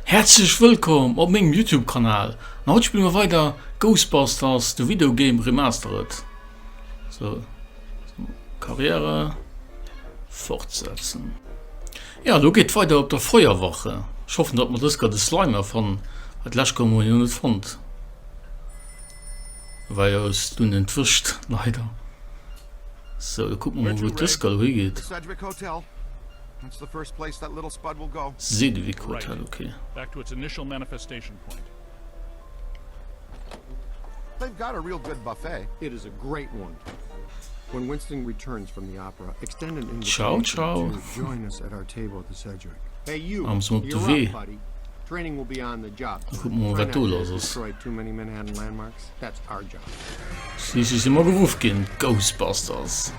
Häerzlech wëllkomm op mengem Youtube Kanal an haut spille mer weider Ghostbusters the Video Game Remastered so Karriere fortsetzen jo lo geet weider op der Feuerwache ech hoffen dat mer dësger de Slimer fannen well d'lescht gouf mer jo net fonnt. Wei ass dunn entwëscht leider. Sou da kucken mer mol wou dës Galerie geet. Sedgwick Hotel ok. Ciao ciao. Ech muss mol op de Wee. Kucken mer mol wat do lass ass. Schliisslech si mer geruff ginn, Ghostbusters.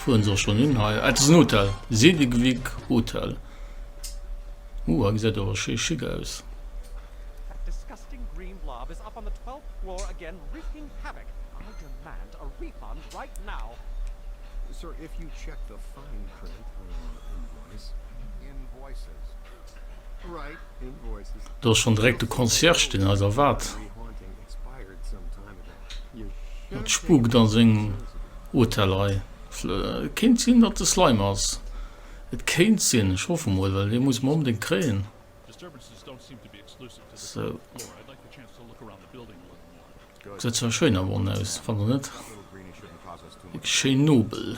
Fueren se och schonn hin hei? Ah, et ass en Hotel, Sedgwick Hotel. Ooh, hei gesäit awer schéi schick aus. Do ass schonn direkt de Concierge, deen eis erwaart. Et spukt a sengem Hotel hei. Et kéint sinn, datt de Slimer ass. Et kéint sinn. Ech hoffe mol, well dee muss mer onbedéngt kréien. Sou. Gesäit zwar schéin am Won aus, fannt Der net? Wierklech schéin nobel.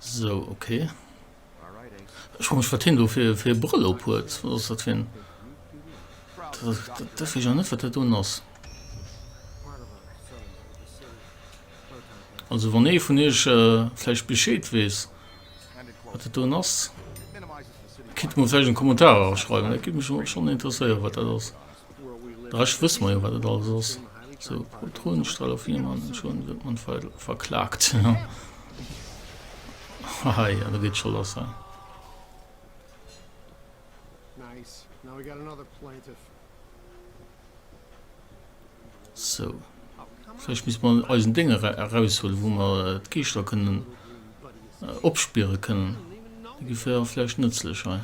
So, okay. Ich muss wat hin do fir fir Brüll op huet ass dat hin. Dat ja net wat dat un ass. Also wann ee vun eech äh, flläch Bescheed wees wat dat un ass. Kit mosägen Kommentar schreiwen, dat gi mech schon interesséiere wat dat ass. Ech wëss mer jo wat et alles ass, sou Protonenstralofilm an ech hun se man verklaakt haha jo da geet scho lass hei. Sou vläicht misst mer eisen Ding eraushuelen wou mer d'Geeschter kënnen opspiere kënnen, déi fir vläicht nëtzlech hei.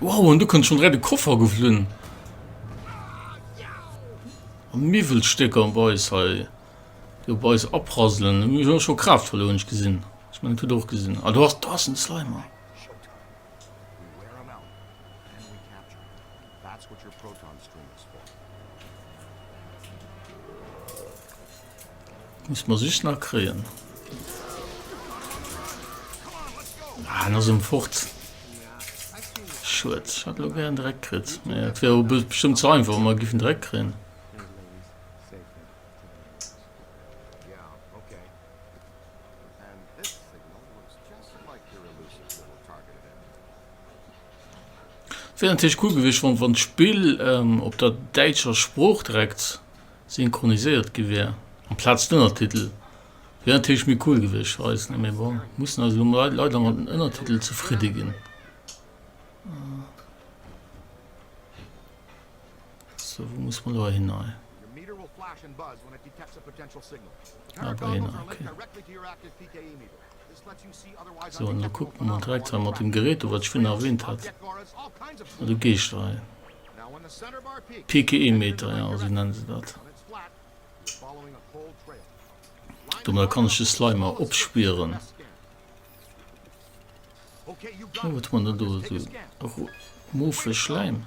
Wow, an du kënnt schon direkt de Koffer geflunn. Am Miwwelstécker am Beis hei. Jo, Beis aprasselen. Mir hun schon Kraft verloren, ich gesinn. Ich mein, tut och gesinn. Ah, du hast das ein Slimer. That's what your proton stream is for. Muss mer sich nach kréien. Ah, en ass um fort. Schued, hat lo gern dreck kritt. Mä et wär o bestëmmt ze einfach, mer giffen dreck kréien. Wär natierlech cool gewiescht, wann, wann d'Spill ähm, op der däitscher Sprooch direkt Synchroniséiert gi wär amplaz d'Ënnertitel, wär natierlech méi cool gewiescht fir eis. Mee bon, mussen eis elo leider mat den Ënnertitel zefridde ginn. Sou, wou muss mer elo hin hei? Hei bei hien, ok. Sou, an da kucke mer direkt hei mat dem Gerät do, wat ech virun erwähnt hat, mat de Geeschter hei. PKE-Meter, jo, esou nenne se dat. Domadder kann ech de Slimer opspieren. Oh, wat hu mer dann do? Esou morphe Schläim.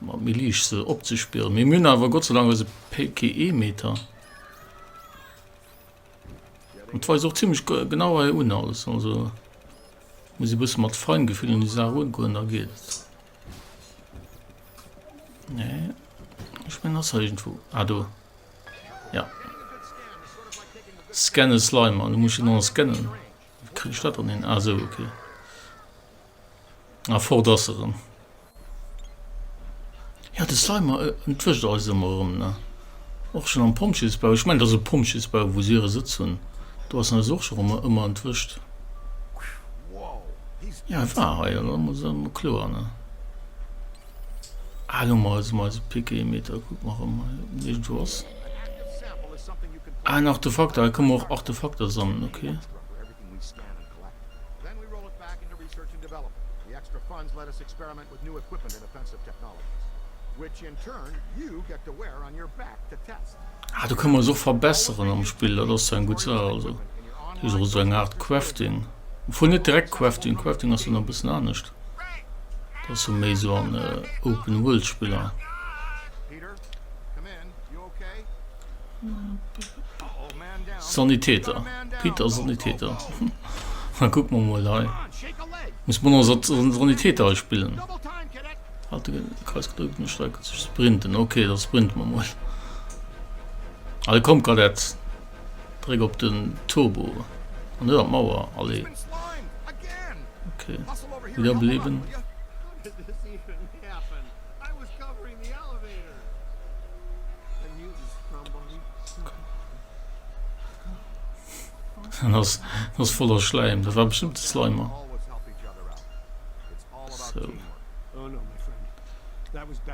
Méi liicht se opzespieren. Mir mün awer Gott sei Dank eise PKE-Meter. Et weist och ziemlich genau hei un alles. Also muss e bësse mat Feingefühl un die Sache ungoen, da geht et. Nee. Ich mein, das irgendwo. Ah, do. Ja. Scanne Slimer. Du musst ihn noch scannen. Wie krieg ich dat dann hin? Ah, so, okay. A fort ass se erëm. Jo, de Slimer entwëscht eis ëmmer erëm, ne? Och schonn am Pompjeesbau, ech mengen, et ass e Pompjeesbau, wou se hire Sëtz hunn, do ass en eis och schon ëmmer entwëscht. Jo, e war hei, dat ass ëmmer kloer, ne? Ah, elo mol eis e Pikémeter, kuck mol erëm hei, ob en iergendwou ass. Ah, en Artefakter, hei kënne mer och Artefakter sammelen, okay. Ah do kann man se och verbesseren am Spill, dat ass eng gutt Saach. Also do ass och esou eng Aart Crafting, obwuel net direkt Crafting, Crafting ass jo nach e bëssen anescht, dat ass jo méi esou an Open-World-Spiller. Sanitäter Peter Sanitäter Na guck mal mal hei muss man also Sanitäter hei spillen hat den Kreis gedrückt und Strecke zu sprinten okay das sprinten wir mal Alle kommt gerade jetzt drück op den Turbo an der Mauer alle okay wieder beleben Dat ass, dat ass voller Schläim. Dat war bestëmmt de Slimer. Sou.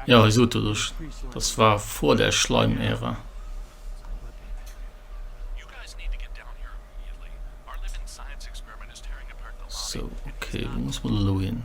Ja, ech sot et ech. Dat war vor der Schleim-Ära. Sou, okay, wou muss mer elo hin?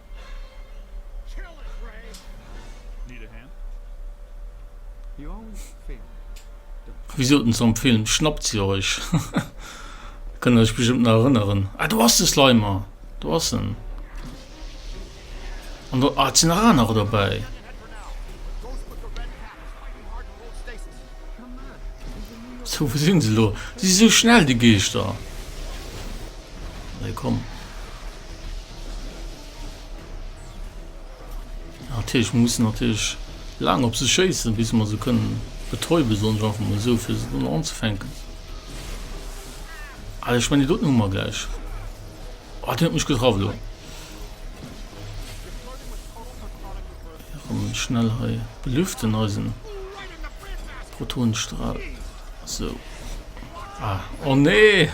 Wéi sot en zum Film, schnappt se Iech! Kënnt Dir Iech bestëmmt nach erënneren. Ah do ass de Slimer, do ass en. An do, ah et sinn nach anerer dobäi. So wou sinn se elo? Si si esou schnell déi Geeschter? Nee komm. Natierlech, mer mussen natierlech laang op se schéissen, bis mer se kënnen betäuben, soen ech einfach mol esou, fir se dunn anzefänken. Allez, ech meine, doten hu mer gläich. Oh, deen huet mech getraff elo. Komm, schnell hei belüften eisen Protonenstrahl. So. Ah, oh nee!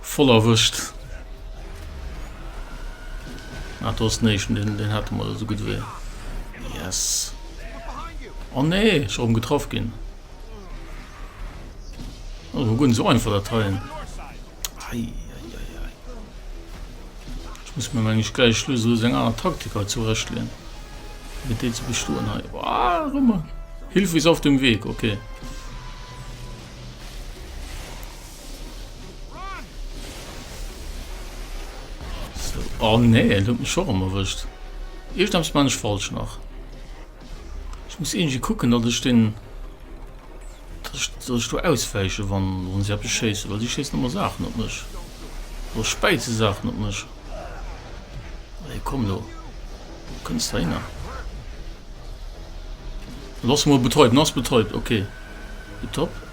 Voll erwëscht! Ah do ass den éischten, deen deen hate mer esou gutt ewéi. Yes! Oh nee, ech erëm getraff ginn. Oh, hu guer net esou einfach dat heien. Eieiei. Ech muss mir mengen ech gläich lo esou seng aner Taktik hei zurecht leen. Fir déi ze bestoen hei. Ah, rëmmer! Hilfe ist auf dem Weg, okay. Oh nee, en huet mech scho rem erwëscht. Iergendeppes man ech falsch nach. Ech muss irgendwie kucken, datt ech den... datt ech, datt ech do auswäiche wann, wann si eppes schéissen, well si schéissen ëmmer Saachen op mech. Oder späit se Saachen op mech. Allez, komm lo. Du kënns da hinner. Lass mol betäuben, ass betäubt, okay. Tipptopp.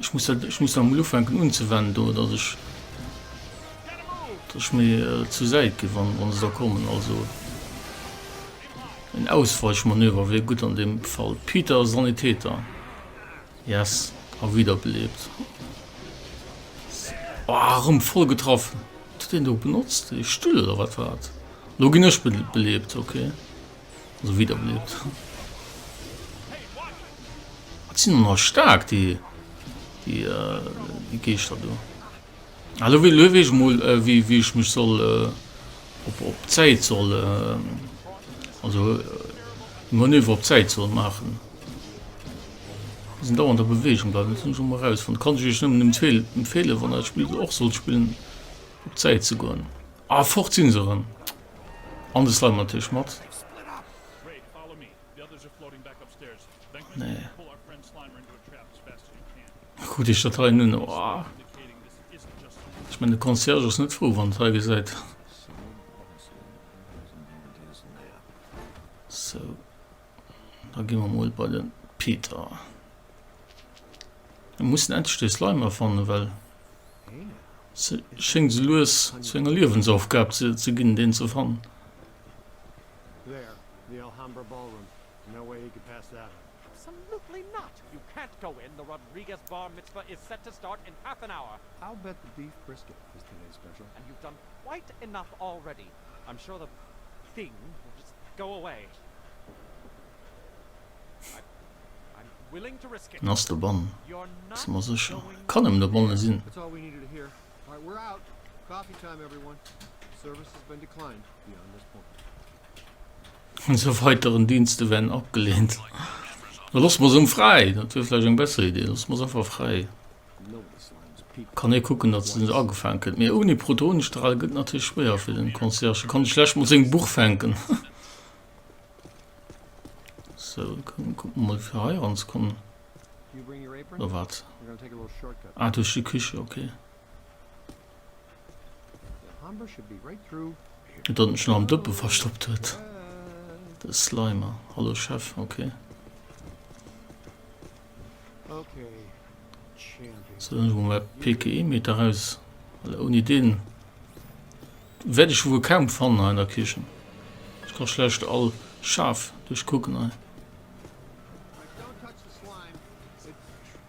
Ech muss dat, ech muss dat emol ufänken unzewenden do, dass ech, dass ech méi zur Säit ginn, wann, wann se da kommen. Also en Ausweichmanöver wier gutt an deem Fall. Peter, Sanitäter, Yes, a wiederbelebt. Ah, erëm voll getraff. Huet deen do benotzt ee Stull oder wat war dat? Lo ginn ech belebt, okay. Esou widder bliewt. Wat sinn der nach staark déi déi Geeschter do. Elo wéi elo weess ech mol wéi wéi ech mech soll op op d'Säit soll also Manöver op d'Säit soll maachen. Déi sinn dauernd a Beweegung bleiwen, dat hunn ech och mol erausfonnt. Kann ech iech nëmmen empfeel empfeelen wann der dat Spill och sollt spillen op d'Säit ze goen. Ah fort sinn se erëm. An de Slimer natierlech mat. Nee. Krut ech dat hei nun? Oh. Ech menn de Concierge ass net frou, wann et hei gesäit. So. Da gi mer mol bei de Peter. Mir mussen endlech dee Slime erfannen, well se schéngt esou lues zu enger Liewensaufgab ze, ze ginn, deen ze fannen. I'm sure that thing will just go away. Den ass dobon, si mer sécher. Kann nëmmen dobonne sinn. Esou weiteren Dienste wären abgelehnt. Looss mer se emol fräi, dat wier vläicht eng besser Iddi. Looss mer se einfach fräi. Kann ee kucken datt se net agefaangen kritt, mee ouni Protonenstrale gëtt et natierlech schwéier fir den Concierge, e kann schlecht mol seng Buch fänken. So kucken mol fir hei ranzekommen. Oder wat? Ah duerch déi Küche, okay. Et datt en scho nach am Dëppe verstoppt huet, de Slimer. Hallo Chef, ok. Sou, dann hu mer mäi PKE-Meter eraus, well ouni deen wäert ech e wuel kaum fannen hei an der Kichen. Ech ka schlecht all Schaf duerchkucken hei.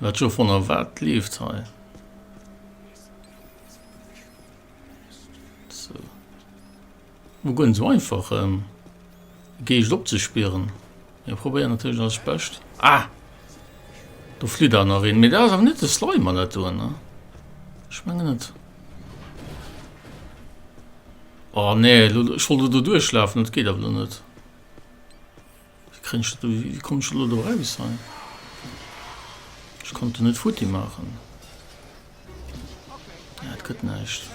Mä Jo von a wat leeft hei sou? Wou goen sou einfach em Geescht opzespieren? Mir probéieren natierlech eist Bescht. Ah! Do flitt awer nach een. Mee dat ass awer net de Slimer, dat do, ne? Ech menge net. Oh nee, ech wollt elo do duerchlafen, dat geet awer elo net. Wéi kréien ech dat do, wéi kommen ech elo do raus hei? Ech konnt en net futti maachen. Ah, et gëtt näischt.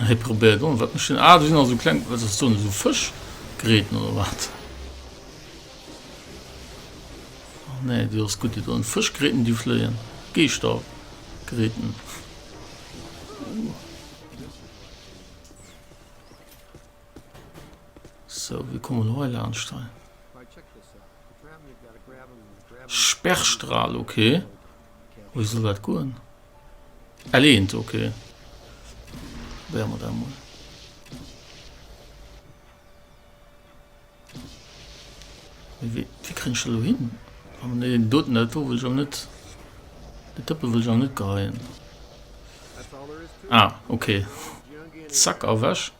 Hei probéiert on, wat mech den. Ah, do sinn also kleng, wat ass do, esou Fësch gräten oder wat? Nee, du ass gutt, do en Fëschgräten, déi fléien. Geeschtergräten. So wéi komme mer hei laanscht hei? Sperrstrahl ok Wéi soll dat goen? L1 ok Wéier mer dat mol. Wéi kréien ech dat elo hin? Oh nee deen doten dat do wëll ech awer net. Deen Tëppe wëll ech awer net geheien. Ah ok Zack ewech.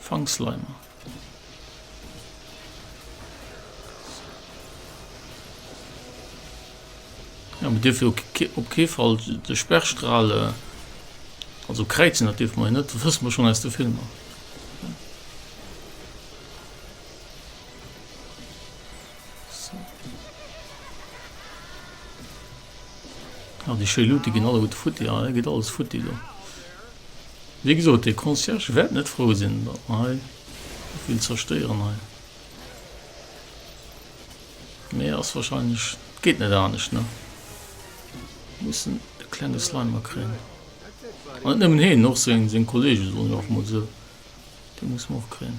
Fangsleimer. Jo mir dierfe jo op kee Fall de Sperrstrale, also kräizen, dat dierfe mer jo net, dat wësse mer schonn aus de Filmer. Sou. Ah déi schéi Luute ginn alleguerte futti. Ah hei geet alles futti do. Wéi gesot, dee Concierge wäert net frou sinn, datt mer hei sou vill zerstéieren hei. Mee ass wahrscheinlech, et geet net anescht, ne? Mir mussen de klenge Slimer kréien. An net nëmmen heen, och seng, seng Kollege, soen ech einfach mol esou. Déi musse mer och kréien.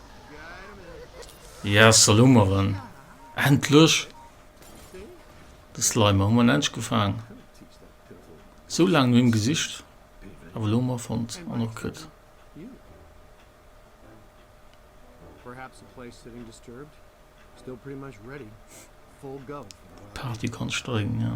Ja, Salomeren. Endlech! De Slimer hu mer endlech gefaang. Sou laang no him gesicht, awer elo hu mer e fonnt an och kritt. D'Party kann steigen, ja.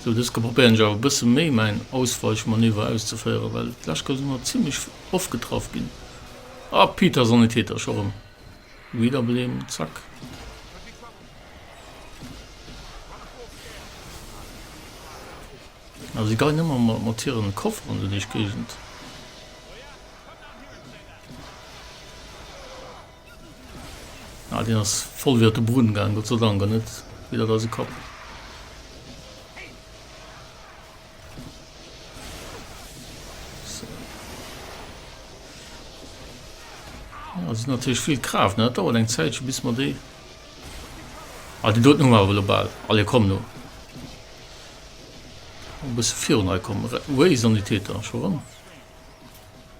Sou dëske probéieren ech awer e bësse méi mäin Ausweichmanöver auszeféieren, well d'lescht Kéier si mer zimlech oft getraff ginn. A Peter Sanitäter scho rëm wieder bleem, zack. A si geien ëmmer mat mat hiren Koffer an sou deeg Géigend. Ah deen ass voll widder de Brunn gaang, Gott sei Dank an net widder eise Kapp. Ah si natierlech vill Kraaft ne, dat dauert eng Zäitche bis mer déi Ah déi doten hu mer awer elo bal. Allez komm no. E bësse virun hei kommen. Re Wéi Sanitäter, scho ran.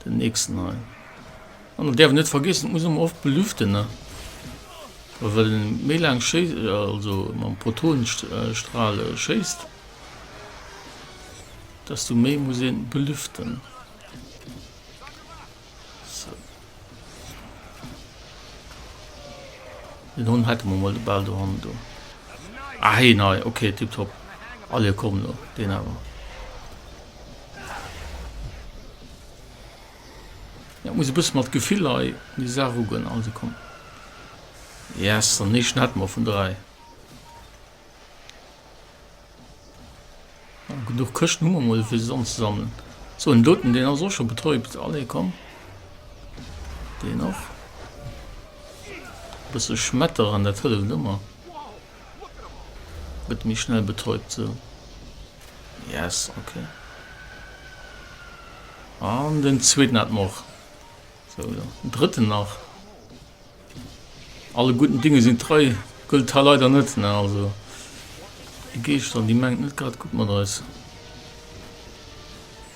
Den nächsten hei. An der därf net vergessen muss oft belüften ne well méi lang sche also mam Protonenstrahle schéist dass du méi muss een belüften so. Den hun hat man mal de ball do han do ah, hey, nei okay tipptopp alle kommen den aber. Ja muss e bësse mat Gefill hei un déi Saach erugoen. Also komm. Yes, an ee Schnett mol vun 3. Ja, genuch Këschten hu mer mol fir se anzusammeln. So en doten deen ass och scho betäubt. Allez komm. Deen och. Bësse schmetteren, dat hëlleft ëmmer. Gëtt méi schnell betäubt sou yes ok an den zweeten hat mer och sou jo den drëtten nach alle guten Dinge sinn trei gëllt ha leider net ne also déi Geescht an déi mengt net grad gutt mat eis.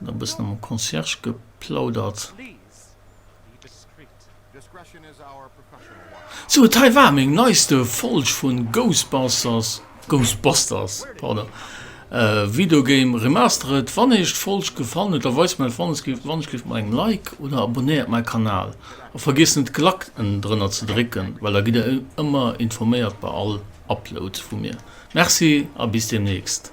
Hun e bessen mam Concierge geplaudert. Sou et hei war meng neiste Folg vun Ghostbusters, Ghostbusters pardon, Video Game Remastered. Wann Iech d'Folg gefallen huet da weist mäi Fannesgefill wann Iech giff mat engem Like oder abonnéiert mäi Kanal a vergiesst net d'Glack ennen drënner ze drécken well da gitt der ëmmer informéiert bei all Upload vu mir. Merci a bis demnächst.